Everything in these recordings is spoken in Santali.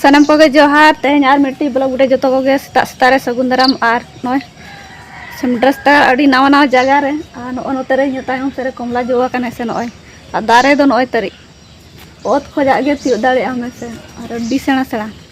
ᱥᱟᱱᱟᱢ ᱠᱚᱜᱮ ᱡᱚᱦᱟᱨ ᱛᱮᱦᱮᱧ ᱟᱨ ᱢᱤᱫᱴᱤᱡ ᱵᱞᱚᱜ ᱨᱮ ᱡᱚᱛᱚ ᱠᱚᱜᱮ ᱥᱮᱛᱟᱜ ᱥᱮᱛᱟᱜ ᱨᱮ ᱥᱟᱹᱜᱩᱱ ᱫᱟᱨᱟᱢ ᱟᱨ ᱱᱚᱜᱼᱚᱭ ᱥᱮᱢᱰᱨᱟᱥᱛᱟ ᱟᱹᱰᱤ ᱱᱟᱣᱟ ᱱᱟᱣᱟ ᱡᱟᱭᱜᱟ ᱨᱮ ᱟᱨ ᱱᱚᱜᱼᱚ ᱱᱚᱛᱮ ᱨᱮ ᱤᱧ ᱛᱟᱭᱚᱢ ᱥᱮᱫ ᱨᱮ ᱠᱚᱢᱞᱟ ᱡᱚ ᱟᱠᱟᱱᱟ ᱥᱮ ᱱᱚᱜᱼᱚᱭ ᱟᱨ ᱫᱟᱨᱮ ᱫᱚ ᱱᱚᱜᱼᱚᱭ ᱛᱟᱹᱨᱤᱡ ᱚᱛ ᱠᱷᱚᱡᱟᱜ ᱜᱮ ᱛᱤᱭᱳᱜ ᱫᱟᱲᱮᱭᱟᱜᱼᱟ ᱢᱮᱥᱮ ᱟᱨ ᱟᱹᱰᱤ ᱥᱮᱬᱟ ᱥᱮᱬᱟ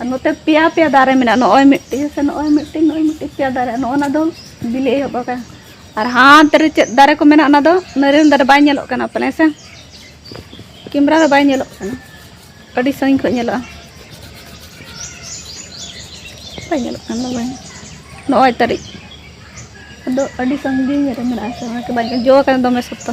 ᱟᱨ ᱱᱚᱛᱮ ᱯᱮᱭᱟ ᱯᱮᱭᱟ ᱫᱟᱨᱮ ᱢᱮᱱᱟᱜᱼᱟ ᱱᱚᱜᱼᱚᱭ ᱢᱤᱫᱴᱤᱡ ᱥᱮ ᱱᱚᱜᱼᱚᱭ ᱢᱤᱫᱴᱤᱡ ᱱᱚᱜᱼᱚᱭ ᱢᱤᱫᱴᱤᱡ ᱯᱮᱭᱟ ᱫᱟᱨᱮ ᱱᱚᱜᱼᱚ ᱱᱟ ᱫᱚ ᱵᱤᱞᱤ ᱮᱦᱚᱵ ᱟᱠᱟᱱᱟ ᱟᱨ ᱦᱟᱱᱛᱮ ᱨᱮ ᱪᱮᱫ ᱫᱟᱨᱮ ᱠᱚ ᱢᱮᱱᱟᱜᱼᱟ ᱚᱱᱟ ᱫᱚ ᱱᱟᱹᱨᱤᱭᱟᱞ ᱫᱟᱨᱮ ᱵᱟᱭ ᱧᱮᱞᱚᱜ ᱠᱟᱱᱟ ᱯᱟᱞᱮ ᱥᱮ ᱠᱮᱢᱨᱟ ᱨᱮ ᱵᱟᱭ ᱧᱮᱞᱚᱜ ᱠᱟᱱᱟ ᱟᱹᱰᱤ ᱥᱟᱺᱜᱤᱧ ᱠᱷᱚᱱ ᱧᱮᱞᱚᱜᱼᱟ ᱵᱟᱭ ᱧᱮᱞᱚᱜ ᱠᱟᱱᱟ ᱵᱟᱭ ᱱᱚᱜᱼᱚᱭ ᱛᱟᱹᱨᱤᱡ ᱟᱫᱚ ᱟᱹᱰᱤ ᱥᱟᱺᱜᱤᱧ ᱨᱮ ᱢᱮᱱᱟᱜᱼᱟ ᱥᱮ ᱚᱱᱟᱛᱮ ᱵᱟᱭ ᱡᱚ ᱟᱠᱟᱱᱟ ᱫᱚᱢᱮ ᱥᱚᱠᱛᱚ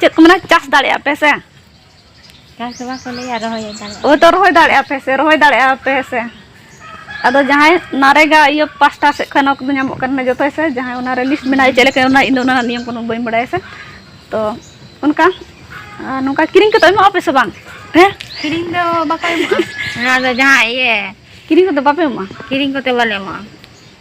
ᱪᱮᱫ ᱠᱚ ᱢᱮᱱᱟ ᱪᱟᱥ ᱫᱟᱲᱮᱭᱟᱜᱼᱟ ᱯᱮ ᱥᱮ ᱪᱟᱥ ᱫᱚ ᱵᱟᱠᱚ ᱞᱟᱹᱭᱟ ᱨᱚᱦᱚᱭ ᱫᱟᱲᱮᱭᱟᱜᱼᱟ ᱦᱳᱭ ᱛᱚ ᱨᱚᱦᱚᱭ ᱫᱟᱲᱮᱭᱟᱜᱼᱟ ᱯᱮ ᱥᱮ ᱨᱚᱦᱚᱭ ᱫᱟᱲᱮᱭᱟᱜᱼᱟ ᱯᱮ ᱥᱮ ᱟᱫᱚ ᱡᱟᱦᱟᱸᱭ ᱱᱟᱨᱮᱜᱟ ᱤᱭᱟᱹ ᱯᱟᱥᱴᱟ ᱥᱮᱫ ᱠᱷᱚᱱ ᱚᱱᱟ ᱠᱚᱫᱚ ᱧᱟᱢᱚᱜ ᱠᱟᱱᱟ ᱡᱚᱛᱚ ᱥᱮ ᱡᱟᱦᱟᱸᱭ ᱚᱱᱟ ᱨᱮ ᱞᱤᱥᱴ ᱢᱮᱱᱟᱜᱼᱟ ᱪᱮᱫ ᱞᱮᱠᱟ ᱚᱱᱟ ᱤᱧᱫᱚ ᱚᱱᱟ ᱱᱤᱭᱚᱢ ᱠᱚᱫᱚ ᱵᱟᱹᱧ ᱵᱟᱲᱟᱭᱟ ᱥᱮ ᱛᱚ ᱚᱱᱠᱟ ᱱᱚᱝᱠᱟ ᱠᱤᱨᱤᱧ ᱠᱟᱛᱮ ᱮᱢᱚᱜᱼᱟ ᱯᱮ ᱥᱮ ᱵᱟᱝ ᱦᱮᱸ ᱠᱤᱨᱤᱧ ᱫᱚ ᱵᱟᱠᱚ ᱮᱢᱚᱜᱼᱟ ᱚᱱᱟ ᱫᱚ ᱡᱟᱦᱟᱸ ᱤᱭᱟᱹ ᱠᱤᱨᱤᱧ ᱠᱚᱫᱚ ᱵᱟᱯᱮ ᱮᱢᱚᱜᱼᱟ ᱠᱤᱨᱤᱧ ᱠᱚᱛᱮ ᱵᱟᱞᱮ ᱮᱢᱚᱜᱼᱟ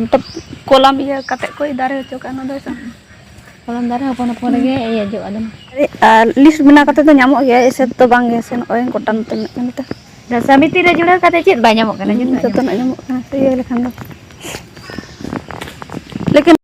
ᱢᱚᱛᱞᱚᱵ ᱠᱚᱞᱟᱢ ᱤᱭᱟᱹ ᱠᱟᱛᱮ ᱠᱚ ᱫᱟᱨᱮ ᱦᱚᱪᱚ ᱠᱟᱜᱼᱟ ᱚᱱᱟ ᱫᱚ ᱦᱮᱸᱥᱮ ᱠᱚᱞᱟᱢ ᱫᱟᱨᱮ ᱦᱚᱯᱚᱱ ᱦᱚᱯᱚᱱ ᱨᱮᱜᱮ ᱤᱭᱟᱹ ᱡᱚᱜᱼᱟ ᱫᱚᱢᱮ ᱟᱨ ᱞᱤᱥᱴ ᱵᱮᱱᱟᱣ ᱠᱟᱛᱮ ᱫᱚ ᱧᱟᱢᱚᱜ ᱜᱮᱭᱟ ᱮᱥᱮ ᱛᱮᱫᱚ ᱵᱟᱝ ᱜᱮ ᱥᱮ ᱱᱚᱜᱼᱚᱭ ᱜᱚᱴᱟ ᱱᱚᱛᱮ ᱢᱮᱱᱟᱜ ᱠᱟᱱᱟ ᱱᱚᱛᱮ ᱥᱟᱢᱤᱛᱤ ᱨᱮ ᱡᱩᱲᱟᱹᱣ ᱠᱟᱛᱮ ᱪᱮᱫ ᱵᱟᱭ ᱧᱟᱢᱚᱜ ᱠᱟᱱᱟ ᱡᱚᱛᱚᱱᱟᱜ ᱧᱟᱢᱚᱜ ᱠᱟᱱᱟ ᱤᱭᱟᱹ ᱞᱮᱠᱷᱟᱱ ᱫᱚ ᱞᱮᱠᱤᱱ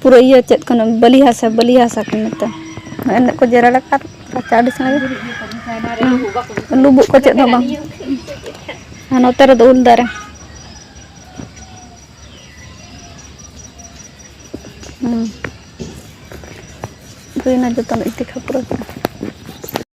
ᱯᱩᱨᱟᱹ ᱤᱭᱟᱹ ᱪᱮᱫ ᱠᱟᱱᱟ ᱵᱟᱹᱞᱤ ᱦᱟᱥᱟ ᱵᱟᱹᱞᱤ ᱦᱟᱥᱟ ᱠᱚ ᱢᱮᱛᱟᱜᱼᱟ ᱮᱱᱮᱡ ᱠᱚ ᱡᱮᱨᱮᱲ ᱟᱠᱟᱫ ᱨᱟᱪᱟ ᱟᱹᱰᱤ ᱥᱟᱸᱜᱮ ᱞᱩᱵᱩᱜ ᱠᱚ ᱪᱮᱫ ᱦᱚᱸ ᱵᱟᱝ ᱟᱨ ᱱᱚᱛᱮ ᱨᱮᱫᱚ ᱩᱞ ᱫᱟᱨᱮ ᱦᱩᱸ ᱦᱩᱭᱱᱟ ᱡᱚᱛᱚᱱᱟᱜ ᱤᱛᱤ ᱠᱷᱟᱯᱨᱟᱹ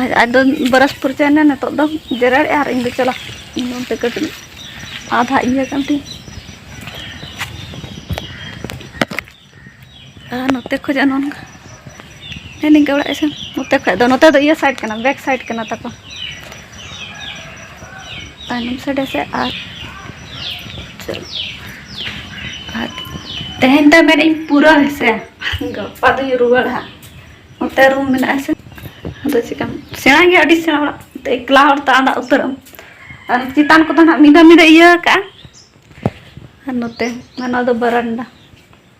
ᱟᱨ ᱟᱫᱚ ᱵᱨᱟᱥ ᱯᱷᱩᱨᱪᱟᱹᱭᱮᱱᱟ ᱱᱤᱛᱚᱜ ᱫᱚ ᱡᱮᱨᱮᱲ ᱟᱨ ᱤᱧ ᱫᱚ ᱪᱟᱞᱟᱜ ᱤᱧ ᱚᱱᱛᱮ ᱠᱟᱹᱴᱤᱡ ᱟᱫᱷᱟ ᱤᱭᱟᱹ ᱠᱟᱱ ᱛᱤᱧ ᱟᱨ ᱱᱚᱛᱮ ᱠᱷᱚᱡᱟᱜ ᱱᱚᱝᱠᱟ ᱦᱮᱸ ᱱᱤᱝᱠᱟᱹ ᱚᱲᱟᱜ ᱤᱥᱤᱱ ᱱᱚᱛᱮ ᱠᱷᱚᱡ ᱫᱚ ᱱᱚᱛᱮ ᱫᱚ ᱤᱭᱟᱹ ᱥᱟᱭᱤᱰ ᱠᱟᱱᱟ ᱵᱮᱠ ᱥᱟᱭᱤᱰ ᱠᱟᱱᱟ ᱛᱟᱠᱚ ᱛᱟᱭᱱᱚᱢ ᱥᱟᱰᱮ ᱥᱮ ᱟᱨ ᱛᱮᱦᱮᱧ ᱫᱚ ᱢᱮᱱᱮᱫ ᱤᱧ ᱯᱩᱨᱟᱹ ᱦᱮᱸᱥᱮ ᱜᱟᱯᱟ ᱫᱚᱧ ᱨᱩᱣᱟᱹᱲᱟ ᱱᱚᱛᱮ ᱨᱩᱢ ᱢᱮᱱᱟᱜᱼᱟ ᱥᱮ ᱟᱫᱚ ᱪᱮᱠᱟᱢ ᱥᱮᱬᱟ ᱜᱮᱭᱟ ᱟᱹᱰᱤ ᱥᱮᱬᱟ ᱚᱲᱟᱜ ᱮᱠᱞᱟ ᱦᱚᱲ ᱛᱚ ᱟᱸᱰᱟ ᱩᱛᱟᱹᱨ ᱟᱢ ᱟᱨ ᱪᱮᱛᱟᱱ ᱠᱚᱫᱚ ᱱᱟᱜ ᱢᱤᱫ ᱫᱷᱟᱣ ᱢᱤᱫ ᱫᱷᱟᱣ ᱤᱭᱟᱹ ᱠᱟᱜᱼᱟ ᱟᱨ ᱱᱚᱛᱮ ᱱᱚᱣᱟ ᱫᱚ ᱵᱟᱨᱟᱱᱰᱟ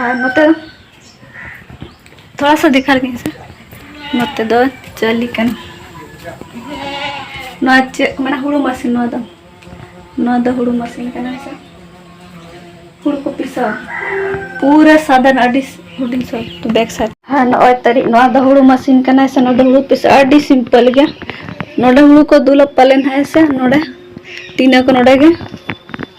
ᱟᱨ ᱱᱚᱛᱮ ᱫᱚ ᱛᱷᱚᱲᱟ ᱥᱟ ᱫᱮᱠᱷᱟ ᱞᱮᱜᱤᱧ ᱥᱮ ᱱᱚᱛᱮ ᱫᱚ ᱪᱟᱹᱞᱤ ᱠᱟᱱ ᱱᱚᱣᱟ ᱪᱮᱫ ᱢᱟᱱᱮ ᱦᱩᱲᱩ ᱢᱟᱥᱤᱱ ᱱᱚᱣᱟ ᱫᱚ ᱱᱚᱣᱟ ᱫᱚ ᱦᱩᱲᱩ ᱢᱟᱥᱤᱱ ᱠᱟᱱᱟ ᱥᱮ ᱦᱩᱲᱩ ᱠᱚ ᱯᱤᱥᱟ ᱯᱩᱨᱟᱹ ᱥᱟᱫᱟᱱ ᱟᱹᱰᱤ ᱦᱩᱰᱤᱧ ᱥᱚ ᱵᱮᱠ ᱥᱟᱭᱤᱰ ᱦᱮᱸ ᱱᱚᱜᱼᱚᱭ ᱛᱟᱹᱨᱤᱡ ᱱᱚᱣᱟ ᱫᱚ ᱦᱩᱲᱩ ᱢᱟᱥᱤᱱ ᱠᱟᱱᱟ ᱥᱮ ᱱᱚᱰᱮ ᱦᱩᱲᱩ ᱯᱤᱥᱟ ᱟᱹᱰᱤ ᱥᱤᱢᱯᱚᱞ ᱜᱮᱭᱟ ᱱᱚᱰᱮ ᱦᱩᱲᱩ ᱠᱚ ᱫᱩᱞᱟ ᱯᱟᱞᱮᱱ ᱦᱮᱸ ᱥᱮ ᱱᱚᱰᱮ ᱴᱤᱱᱟᱹ ᱠᱚ ᱱᱚᱰᱮ ᱜᱮ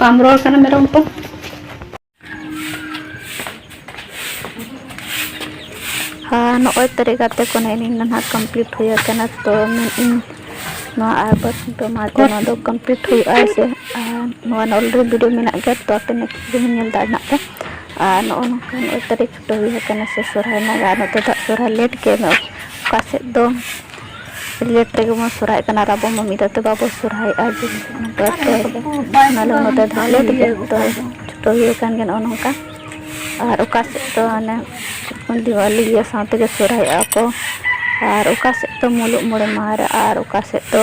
ᱵᱟᱢ ᱨᱚᱲ ᱠᱟᱱᱟ ᱢᱮᱨᱚᱢ ᱠᱚ ᱟᱨ ᱱᱚᱜᱼᱚᱭ ᱛᱟᱹᱨᱤ ᱜᱟᱛᱮ ᱠᱚ ᱱᱮᱜᱼᱮ ᱱᱤᱱ ᱱᱟᱦᱟᱜ ᱠᱚᱢᱯᱞᱤᱴ ᱦᱩᱭ ᱟᱠᱟᱱᱟ ᱛᱚ ᱢᱮᱱᱮᱫ ᱱᱚᱣᱟ ᱟᱨ ᱵᱟᱥ ᱫᱚᱢᱟᱛᱮ ᱱᱚᱣᱟ ᱫᱚ ᱠᱚᱢᱯᱞᱤᱴ ᱦᱩᱭᱩᱜᱼᱟ ᱥᱮ ᱟᱨ ᱱᱚᱣᱟ ᱚᱞᱨᱮᱰᱤ ᱵᱷᱤᱰᱤᱭᱳ ᱢᱮᱱᱟᱜ ᱜᱮᱭᱟ ᱛᱚ ᱟᱯᱮ ᱱᱮᱠᱥᱴ ᱵᱷᱤᱰᱤᱭᱳ ᱧᱮᱞ ᱫᱟᱲᱮᱭᱟᱜ ᱯᱮ ᱟᱨ ᱱᱚᱜᱼᱚ ᱱᱚᱝᱠᱟ ᱱᱚᱜᱼᱚᱭ ᱛᱟᱹᱨᱤᱠᱷ ᱠᱷᱩᱱᱴᱟᱹᱣ ᱦᱩᱭ ᱟᱠᱟᱱᱟ ᱥᱮ ᱥᱚᱦᱚᱨᱟᱭ ᱮᱱᱟ ᱟᱨ ᱱᱚᱛᱮ ᱫᱚ ᱥᱚᱦᱚᱨᱟᱭ ᱞᱮᱹᱴ ᱜᱮ ᱦᱩᱭᱩᱜᱼᱟ ᱚᱠᱟ ᱥᱮᱫ ᱫᱚ ᱞᱮᱹᱴ ᱛᱮᱜᱮ ᱵᱚᱱ ᱥᱚᱦᱚᱨᱟᱭᱚᱜ ᱠᱟᱱᱟ ᱟᱨ ᱟᱵᱚ ᱢᱟ ᱢᱤᱫ ᱫᱷᱟᱣ ᱛᱮ ᱵᱟᱵᱚ ᱥᱚᱦᱚᱨᱟᱭᱚᱜᱼᱟ ᱟᱞᱮ ᱱᱚᱛᱮ ᱫᱚ ᱞᱮᱹᱴ ᱜᱮ ᱪᱷᱩᱴᱟᱹᱣ ᱦᱩᱭ ᱟᱠᱟᱱ ᱜᱮᱭᱟ ᱱᱚᱜᱼᱚᱸᱭ ᱱᱚᱝᱠᱟ ᱟᱨ ᱚᱠᱟ ᱥᱮᱫ ᱫᱚ ᱚᱱᱮ ᱫᱤᱣᱟᱞᱤ ᱤᱭᱟᱹ ᱥᱟᱶ ᱛᱮᱜᱮ ᱥᱚᱦᱚᱨᱟᱭᱚᱜᱼᱟ ᱠᱚ ᱟᱨ ᱚᱠᱟ ᱥᱮᱫ ᱫᱚ ᱢᱩᱞᱩᱜ ᱢᱚᱬᱮ ᱢᱟᱦᱟ ᱨᱮ ᱟᱨ ᱚᱠᱟ ᱥᱮᱫ ᱫᱚ